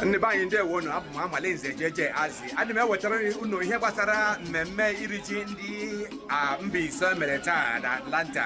ndị be anyị ndewo nụ abụ m Amalinze Jeje Azị ana m ewetara unu ihe gbasara mmemme iri ji ndị Mbaise mere taa na Atlanta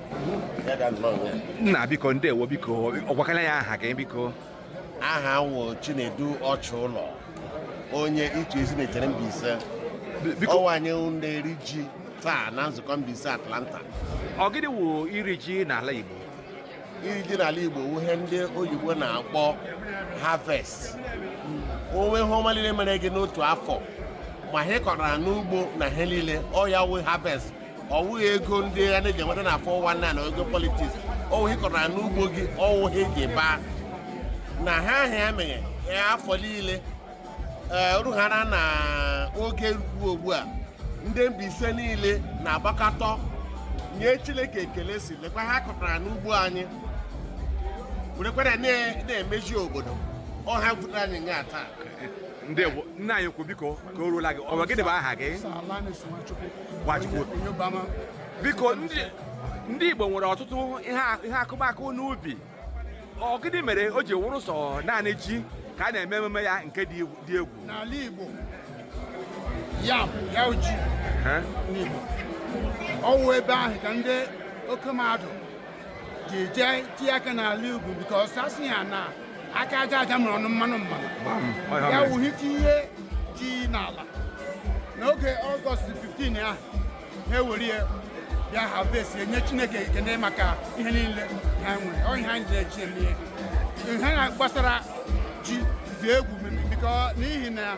nna biko ndewo biko gwakala anyị aha gị biko aha m wụ Chinedu Ọchụlọ onye Itu Ezinihitte Mbaise ọ wụ anyị na-eri ji taa na nzukọ Mbaise Atlanta ọ gịnị wụ iri ji n'ala Igbo iri ji n'ala Igbo wụ ihe ndị oyibo na-akpọ harvest ọ wụ ihe ọma niile mere gị n'otu afọ ma ihe ị kọrọ n'ugbo na ihe niile ọ ya wụ harvest ọ wụghị ego ndị a na-eji enweta na 419 na ego politiks ọ wụ ihe ị kọtara n'ugbo gị ọ wụ ihe ị ji baa na ha ahịa emeghe afọ niile rughara na oge ruo ugbu a ndị Mbaise niile na-agbakọta nye Chineke ekele sị lekwa ihe anyị kọtara n'ugbo anyị werekwara na-emeji obodo ọ ihe butere anyị nga taa nna anyị ukwu biko ka o ruola gị ọ wụ gịnị bụ aha gị biko ndị Igbo nwere ọtụtụ ihe akụmakụ n'ubi ọ gịnị mere o ji wụrụ sọ naanị ji ka a na-eme emume ya nke dị egwu n'ala Igbo yam ya wụ ji n'Igbo ọ wụ ebe ahụ ka ndị oke mmadụ ji jee tie aka n'ala Igbo because a sị ya na aka aja aja mụrụ ọnụ mmanụ mmanụ ya wụ ha tinye ji n'ala n'oge ọgọst 15 ahụ ha ewere ya bịa harvest ya nye Chineke ekene maka ihe niile ha nwere ọ ihe anyị na-eji eme ihe ha na-agbasara ji dị egwu because n'ihi na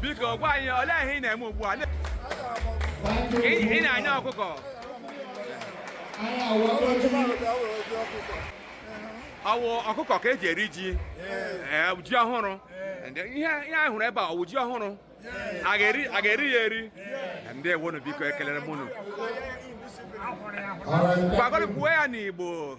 biko gwa anyị olee ihe ị na-eme ugbu a ị na-anya ọkụkọ ọ wụ ọkụkọ ka e ji eri ji ji ọhụrụ ihe anyị hụrụ ebe a ọ wụ ji ọhụrụ a ga-eri ya eri ndewo nụ biko ekelere m unu gwagoro kwuo ya n'Igbo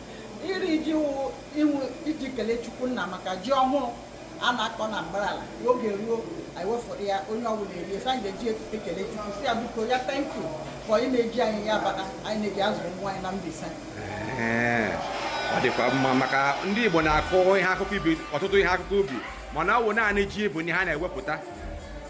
Iri ji wụ inwu iji kelee Chukwu nna maka ji ọhụrụ a na-akọ na mbara ala ka oge ruo anyị wee fọrọ ya onye ọbụla erie so anyị ga-eji otuto ekele Chukwu sị ya biko ya thank you for ị na-eji anyị ya maka anyị na-eji azụ ụmụ anyị na Mbaise Ee, ọ dịkwa mma maka ndị Igbo na-akụ ihe akụkụ ubi ọtụtụ ihe akụkụ ubi mana ọ wụ naanị ji bụ ihe ha na-ewepụta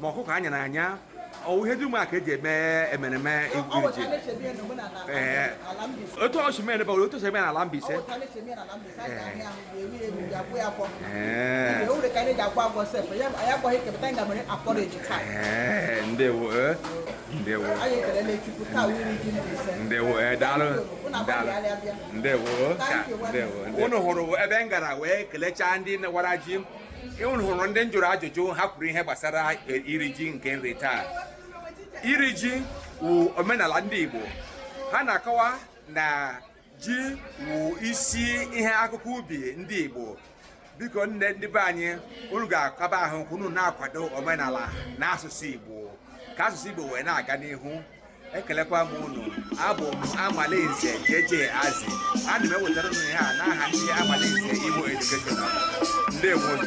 ma ọkụkọ anya na anya ọ wụ ihe dum a ka eji eme emereme iri ji otu o si mere bawụrụ otu o si eme n'ala Mbaise ee ndewo ee ndewo ndewo ee daalụ daalụ ndewo ka ndewo ndewo. unu hụrụ ebe m gara wee kelechaa ndị wara ji unu hụrụ ndị m jụrụ ajụjụ ha kwuru ihe gbasara e, iri ji nke nri taa iri ji wụ omenala ndị Igbo ha na-akọwa na ji wụ isi ihe akụkụ ubi ndị Igbo biko nne ndị be anyị unu ga-akaba ahụ ka unu na-akwado omenala na asụsụ Igbo ka asụsụ Igbo wee na-aga n'ihu ekelekwa m unu abụ m Amalinze JJ Azi ana m ewetara unu ihe a n'aha ndị Amalinze Igbo Educational ndewo unu